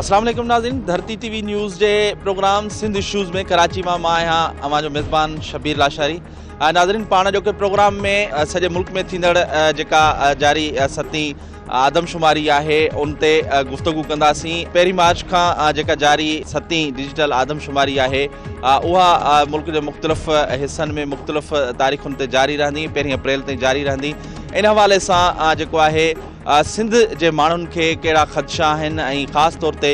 اسلام عليڪم ناظرين ڌرتي ٽي وي نيوز جي پروگرام سنڌ شوز ۾ ڪراچي مان مان آهيان اوهان جو ميزبان شبير لاشاري ناظرين پاڻ جو ڪي پروگرام ۾ سڄي ملڪ ۾ ٿيندڙ جيڪا جاري ستين آدمشماري آهي ان تي گفتگو ڪنداسين پهرين مارچ کان جيڪا جاري ستين ڊجيٽل آدمشماري آهي اها ملڪ جي مختلف حصن ۾ مختلف تاريخن تي جاري رهندي پهرين اپريل تائين جاري رهندي ان حوالي سان جيڪو آهي سنڌ جي ماڻهن کي کيڙا خدشا آهن ۽ خاص طور تي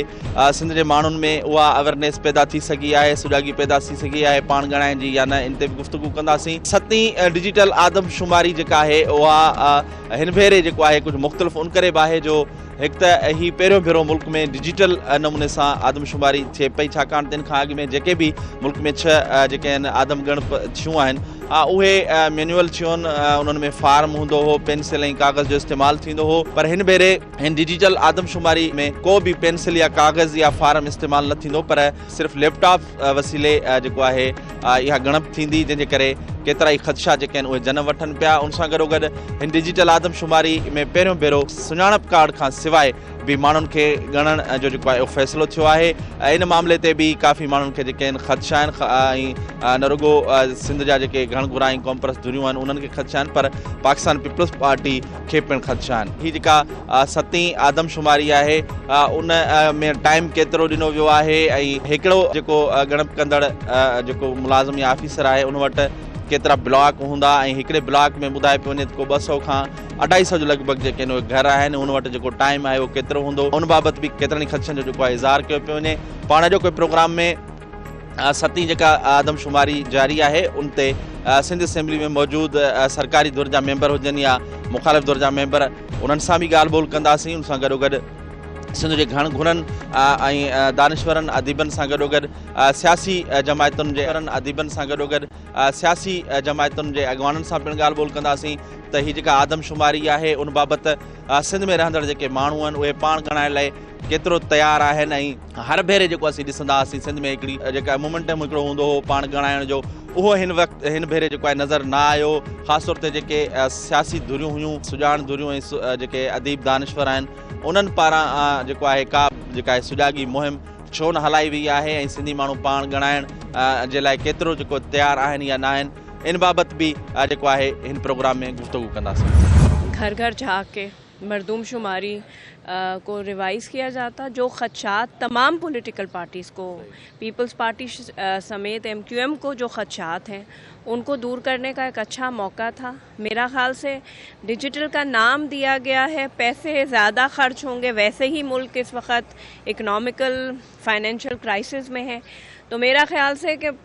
سنڌ جي ماڻهن ۾ اها اويرنيس پيدا ٿي سگهي آهي سجاڳي پيدا ٿي سگهي آهي پاڻ ڳڻائي جي يا نه ان تي به گفتگو ڪنداسين ستين ڊجيٽل آدمشماري جيڪا آهي اها هن ڀيري جيڪو آهي ڪجهه مختلف ان ڪري به آهي جو هڪ ته هي پهريون ڀيرو ملڪ ۾ ڊجيٽل نموني سان آدمشماري ٿئي پئي ڇاڪاڻ ته ان کان اڳ ۾ جيڪي به ملڪ ۾ ڇهه جيڪي آهن آدم ڳڻپ ٿيون آهن اهي مينوئل ٿيون انهن ۾ فارم هوندو هو پينسل ۽ ڪاغذ جو استعمال ٿيندو هو پر هن ڀيري هن ڊجيٽل آدمشماري ۾ ڪو به پينسل يا ڪاغذ يا فارم استعمال نه ٿيندو پر صرف ليپ ٽاپ وسيلي جيڪو آهي اها ڳڻپ ٿيندي جنهن جي ڪري ڪيترا ئي خدشا جيڪي آهن اهي جنم وٺن پيا ان سان گڏو گڏ هن ڊجيٽل آدمشماري ۾ پهريون ڀيرو سڃاڻپ ڪارڊ کان سواء به ماڻهن کي ڳڻڻ جو جيڪو آهي اهو فيصلو ٿيو آهي ان معاملي تي به ڪافي ماڻهن کي جيڪي آهن خدشا آهن ۽ نه رڳو سنڌ جا جيڪي گهڻ گهرا ۽ قومپرست ڌريون آهن انهن کي خدشا آهن پر پاڪستان پيپلز پارٽي کي پڻ خدشا آهن. هي جيڪا ستين آدمشماري آهي ان ۾ ٽائيم ڪيترو ڏنو ويو آهي ۽ هڪڙو جيڪو ڳڻپ ڪندڙ جيڪو ملازم يا آفيسر آهي ان وٽ ڪيترا بلاڪ هوندا ۽ هڪڙي بلاڪ ۾ ٻڌائي پيو وڃي ته ڪو ٻه سئو کان اڍائي سئو جي لڳ ڀڳ جيڪي ان وٽ گهر آهن ان وٽ جيڪو ٽائيم آهي اهو ڪيترو هوندو ان بابت به ڪيترن ئي خدشن جو جيڪو آهي اظهار ڪيو پيو وڃي پاڻ اڄوڪي پروگرام ۾ ستين جيڪا آدمشماري جاري آهي ان تي سنڌ اسيمبلي ۾ موجود سرڪاري ڌر جا ميمبر هجن يا مخالف ڌر جا ميمبر انهن سان به ڳالهه ٻولهه ڪنداسين ان سان گڏو گڏ سنڌ جي گهڻ گهڻن ۽ دانشورن اديبن سان گڏو گڏ سياسي جماعتن جي گهرن اديبن سان گڏو گڏ سياسي جماعتن جي اڳواڻن سان پڻ ڳالهه ٻولهه ڪنداسين ته هي جيڪا آدمشماري آهي ان بابت سنڌ ۾ رهندڙ جيڪي ماڻهو آهن اهي پاڻ ڳڻائڻ لاء ڪيترو تيار آهن ۽ هر ڀيري جيڪو اسين ڏسندا هئاسين سنڌ ۾ هڪڙي جيڪا مومنٽم هڪڙو هوندو هو پاڻ ڳڻائڻ جو اهو هن وقت هن ڀيري جيڪو آهي نظر نه آيو خاص طور تي جيڪي سياسي ڌريون هيون سجاڻ ڌريون ۽ جيڪي اديب دانشور آهن انهن پاران جيڪو آهي ڪا جيڪا آهي سجاڳي مهم ڇو نه هلائي وئي آهي ۽ سنڌي ماڻهو پاڻ ڳڻائڻ جي لاء ڪيترو جيڪو تيار آهن يا نه آهن ان بابت به جيڪو آهي هن پروگرام ۾ گفتگو ڪنداسين گهر گهر جھاڪي مردم شماري ڪو ريوائز ڪيا جاتا جو خدشات تمام پوليٽيڪل پارٽيز ڪو پيپلز پارٽي سميت ايم ڪيو ايم ڪو جو خدشات هي ان ڪو دور ڪرني ڪا ايڪ اڇا موقع ٿا ميرا خيال سي ڊيجيٽل ڪا نام ديا گيا هي پيسي زياده خرچ هون گي ويسي هي ملڪ اس وقت ايڪناميکل فائنينشل ڪرائسز مي هي تو ميرا خيال سي ڪي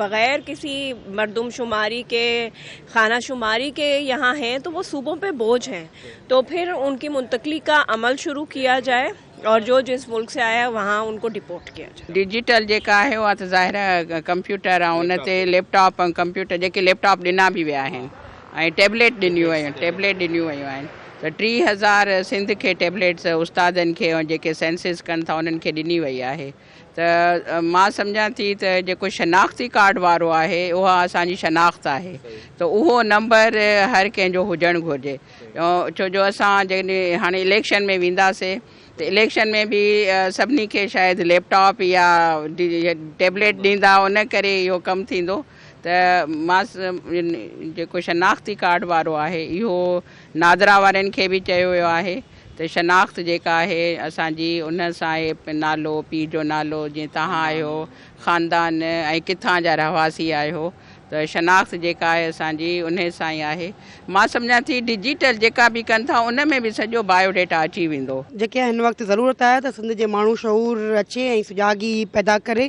بغير ڪسي مردم شماري ڪي خانه شماري ڪي يهان هين تو وو صوبون پي بوجھ هين تو ڦر ان ڪي منتقلي ڪا عمل شروع ڪيا جائي اور جو جس ملڪ سي آيا هين وهان ان ڪو ڊپورٽ ڪيا جائي. ڊجيٽل جيڪا آهي اها ته ظاهر آهي ڪمپيوٽر ۽ ان تي ليپ ٽاپ ۽ ڪمپيوٽر جيڪي ليپ ٽاپ ڏنا به ويا آهن ۽ ٽيبليٽ ڏنيون ويون ٽيبليٽ ڏنيون ويون آهن ته ٽي هزار سنڌ کي ٽيبليٽس استادن کي ۽ جيڪي سينسز ڪن ٿا انهن کي ڏني وئي آهي ته مان سمجهان ٿي ته جيڪو شناختي ڪارڊ وارو آهي اها اسان جي شناخت آهي ته اهو نمبر هر ڪنهن جو هجڻ گهرجي ڇو جو اسان جڏهن هاڻي اليڪشن ۾ وينداسين ته اليڪشن ۾ به سڀني کي شايد ليپ ٽاپ يا ٽيبليٽ ڏيندا ان ڪري اهو ڪم ٿيندو ته ماس جيڪو شناختي ڪارڊ وارو آهي اهو نادرا وارن کي به چيو ويو آهي ته شناخت جيڪا آهي اسان جي ان سان اهي نالو پيء جو نالو جي توهان آهيو خاندان ۽ ڪٿان جا رهواسي آهيو ته شناخت جيڪا آهي اسان جي ان سان ئي آهي مان سمجهان ٿي ڊجيٽل جيڪا به ڪن ٿا ان ۾ به سڄو بايو ڊيٽا اچي ويندو. جيڪي هن وقت ضرورت آهي ته سنڌ جي ماڻهو شعور اچي ۽ سجاڳي پيدا ڪري.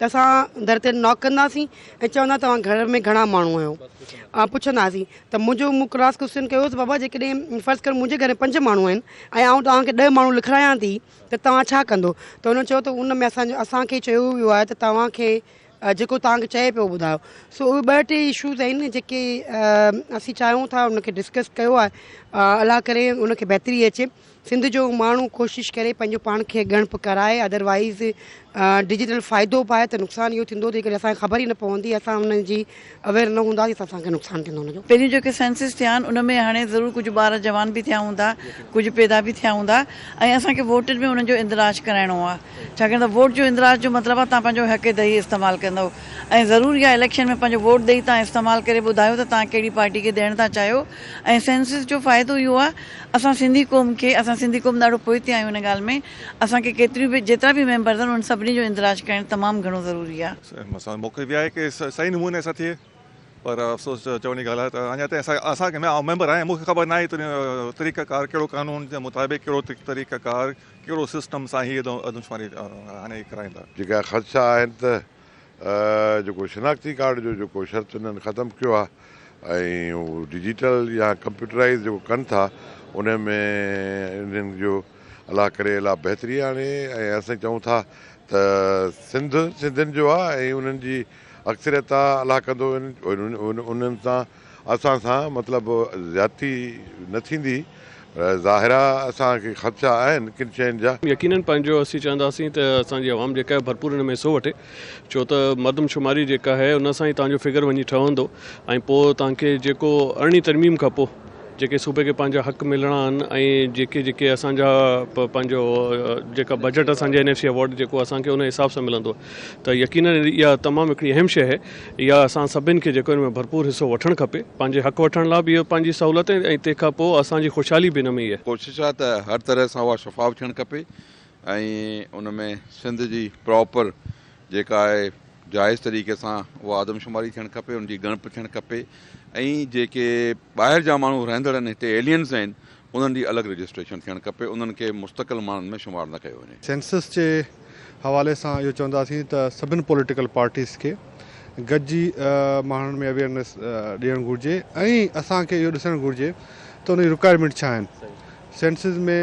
ته اسان در تي ناڪ ڪنداسين ۽ چوندا توهان گهر ۾ گهڻا ماڻهو آهيو ۽ پڇنداسين ته منهنجو مون ڪراس ڪوسچن ڪيو ته بابا جيڪڏهن فرض ڪر منهنجي گهر پنج ماڻهو آهن ۽ آئون توهان کي ڏهه ماڻهو لکرايان ٿي ته توهان ڇا ڪندو ته هن چيو ته ان ۾ اسان اسانکي چيو ويو آهي ته توهان کي جيڪو توهان کي چئي پيو ٻڌايو سو اهي ٻه ٽي اشوز آهن جيڪي اسين چاهيون ٿا ان کي ڊسڪس ڪيو آهي الله ڪري ان کي بهتري اچي سنڌ جو ماڻهو ڪوشش ڪري پنهنجو پاڻ کي ڳڻپ ڪرائي ادروائيز ڊجيٽل فائدو به آهي ته نقصان اهو ٿيندو جيڪڏهن اسان کي خبر ئي نه پوندي اسان ان جي اويئر نه هونداسين ته اسان کي نقصان ٿيندو ان جو. پهريون جيڪي سينسز ٿيا آهن ان ۾ هاڻي ضرور ڪجهه ٻار جوان به ٿيا هوندا ڪجهه پيدا به ٿيا هوندا ۽ اسان کي ووٽن ۾ انهن جو اندراج ڪرائڻو آهي ڇاڪاڻ ته ووٽ جو اندراج جو مطلب آهي تهان پنهنجو حق دهي استعمال ڪندو ۽ ضرور اها اليڪشن ۾ پنهنجو ووٽ ڏئي تهان استعمال ڪري ٻڌايو ته تهان ڪهڙي پارٽي کي ڏيڻ ٿا چاهيو ۽ سينسز جو فائدو اهو آهي اسان سنڌي قوم کي اسان سنڌي قوم ڏاڍو پوئتي آهيون ان ڳالهه ۾ اسان کي ڪيتريون به جيترا به ميمبرز آهن انهن سڀني جو اندراج ڪرڻ تمام گهڻو ضروري آهي. اسان موقعي به آهي ڪي صحيح نموني سان ٿئي پر افسوس چوڻ جي ڳالهه آهي ته اڃا تائين اسان اسان ڪي آئون ميمبر آهيان مون کي خبر ناهي ته طريقه ڪار ڪهڙو قانون جي مطابق ڪهڙو طريقه ڪار ڪهڙو سسٽم سان هي ادمشماري هاڻي ڪرائيندا. جيڪا خدشا آهن ته جيڪو شناختي ڪارڊ جو جيڪو شرط انهن ختم ڪيو آهي ۽ هو ڊجيٽل يا ڪمپيوٽرائز جيڪو ڪن ٿا ان ۾ انهن جو الله ڪري الا بهتري آڻي ۽ اسين چئون ٿا ته سنڌ سنڌين جو آهي ۽ انهن جي اڪثريت آهي الله ڪندو انهن سان اسان سان مطلب زيادتي نه ٿيندي. ظاهرا اسان کي خدشا آهن ڪن شين جا. يقينن پنهنجو اسين چاهنداسين ته اسان جي عوام جيڪا آهي ڀرپور ان ۾ حصو وٺي ڇو ته مردم شماري جيڪا آهي ان سان ئي توهان جو فگر وڃي ٺهندو ۽ پوء توهان کي جيڪو ارڙهين ترميم کان پوء جيڪي صوبي کي پنهنجا حق ملڻا آهن ۽ جيڪي جيڪي اسان جا پنهنجو جيڪا بجيٽ اسان جي اين ايف سي اوارڊ جيڪو اسان کي ان حساب سان ملندو ته يقينن اها تمام هڪڙي اهم شيء آهي. اها اسان سڀني کي جيڪو ان ۾ ڀرپور حصو وٺڻ کپي. پنهنجي حق وٺڻ لاء به اهو پنهنجي سهولت ۽ تنهن کان پوء اسان جي خوشحالي به ان ۾ ئي آهي. ڪوشش آهي ته هر طرح سان اها شفاف ٿيڻ کپي ۽ ان ۾ سنڌ جي پراپر جيڪا آهي جائز طريقي سان اها آدمشماري ٿيڻ کپي، ان جي ڳڻپ ٿيڻ کپي ۽ جيڪي ٻاهر جا ماڻهو رهندڙ آهن هتي ايلينز آهن انهن جي الڳ رجسٽريشن ٿيڻ کپي، انهن کي مستقل ماڻهن ۾ شمار نه ڪيو وڃي. سينسس جي حوالي سان اهو چونداسين ته سڀن پوليٽيڪل پارٽيز کي گڏجي ماڻهن ۾ اويئرنيس ڏيڻ گهرجي ۽ اسان کي اهو ڏسڻ گهرجي ته ان جي رڪوائرمينٽ ڇا آهن، سينسس ۾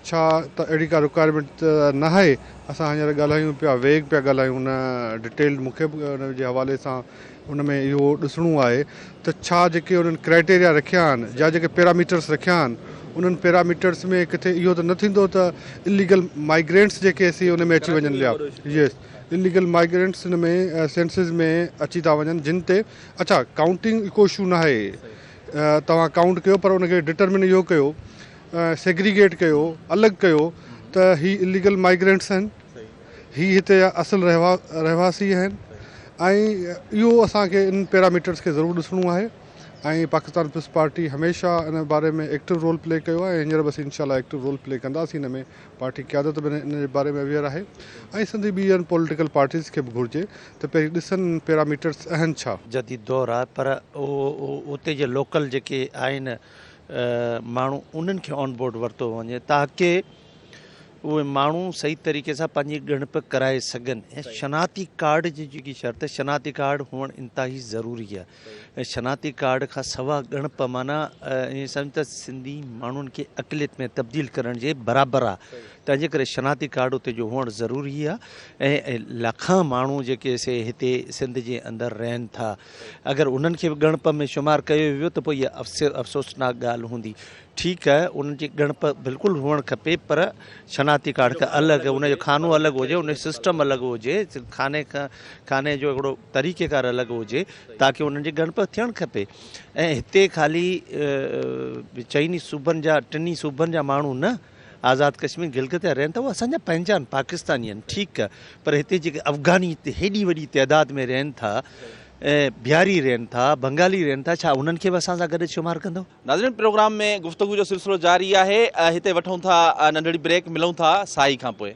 ڇا ته اهڙي ڪا رڪوائرمينٽ ته ناهي، اسان هينئر ڳالهايون پيا ويگ پيا ڳالهايون ان ڊيٽيلڊ مون کي به ان جي حوالي سان ان ۾ اهو ڏسڻو آهي ته ڇا جيڪي انهن ڪرائيٽيريا رکيا آهن يا جيڪي پيراميٽرس رکيا آهن انهن پيراميٽرس ۾ ڪٿي اهو ته نه ٿيندو ته اليگل مائگرينٽس جيڪي سي ان ۾ اچي وڃن يا يس اليگل مائگرينٽس ان ۾ سينسز ۾ اچي ٿا وڃن جن تي اڇا ڪائونٽنگ ڪو اشو نه آهي توهان ڪائونٽ ڪيو پر ان کي ڊٽرمن اهو ڪيو سيگريگيٽ ڪيو الڳ ڪيو ته هي اليگل مائگرينٽس آهن هي هتي جا اصل رهواسي آهن ۽ اهو اسان کي ان پيراميٽرز کي ضرور ڏسڻو آهي ۽ پاڪستان پيپلز پارٽي هميشه ان باري ۾ ايڪٽو رول پلي ڪيو آهي ۽ هينئر به اسين انشاء الله ايڪٽو رول پلي ڪنداسين ان ۾ پارٽي قيادت به ان جي باري ۾ اويئر آهي ۽ سنڌي ٻين پوليٽيڪل پارٽيز کي به گهرجي ته پهرين ڏسن ان پيراميٽرز اهن ڇا جديد دور آهي پر اتي جي لوڪل جيڪي آهن ماڻهو انهن کي آن بورڊ ورتو وڃي تاڪه اهي ماڻهو صحيح طريقي سان پنهنجي ڳڻپ ڪرائي سگهن ۽ شناختي ڪارڊ جي جيڪي شرط شناختي ڪارڊ هئڻ انتهائي ضروري آهي ۽ شناختي ڪارڊ کان سوا ڳڻپ معنيٰ ائين سمجھ ته سنڌي ماڻهن کي اقليت ۾ تبديل ڪرڻ جي برابر آهي تنهنجي ڪري شناختي ڪارڊ اتي جو هئڻ ضروري آهي ۽ لکان ماڻهو جيڪي سي هتي سنڌ جي اندر رهن ٿا اگر انهن کي به ڳڻپ ۾ شمار ڪيو ويو ته پوء اها افسوسناڪ ڳالهه هوندي ٺيڪ آهي ان جي ڳڻپ بلڪل هئڻ کپي پر شناختي ڪارڊ کان الڳ ان جو خانو الڳ هجي ان جو سسٽم الڳ هجي خاني کان خاني جو هڪڙو طريقي ڪار الڳ هجي تاڪي انهن جي ڳڻپ ٿيڻ کپي ۽ هتي خالي چئني صوبن جا ٽني صوبن جا ماڻهو نه آزاد ڪشمير گلگت جا رهن ٿا اهي اسان جا پنهنجا آهن پاڪستاني آهن ٺيڪ آهي پر هتي جيڪي افغاني هتي هيڏي وڏي تعداد ۾ رهن ٿا بهاري رهن ٿا بنگالي رهن ٿا ڇا انهن کي به اسان سان گڏ شمار ڪندو ناظرين پروگرام ۾ گفتگو جو سلسلو جاري آهي هتي وٺون ٿا ننڍڙي بريڪ ملون ٿا سائي کان پوء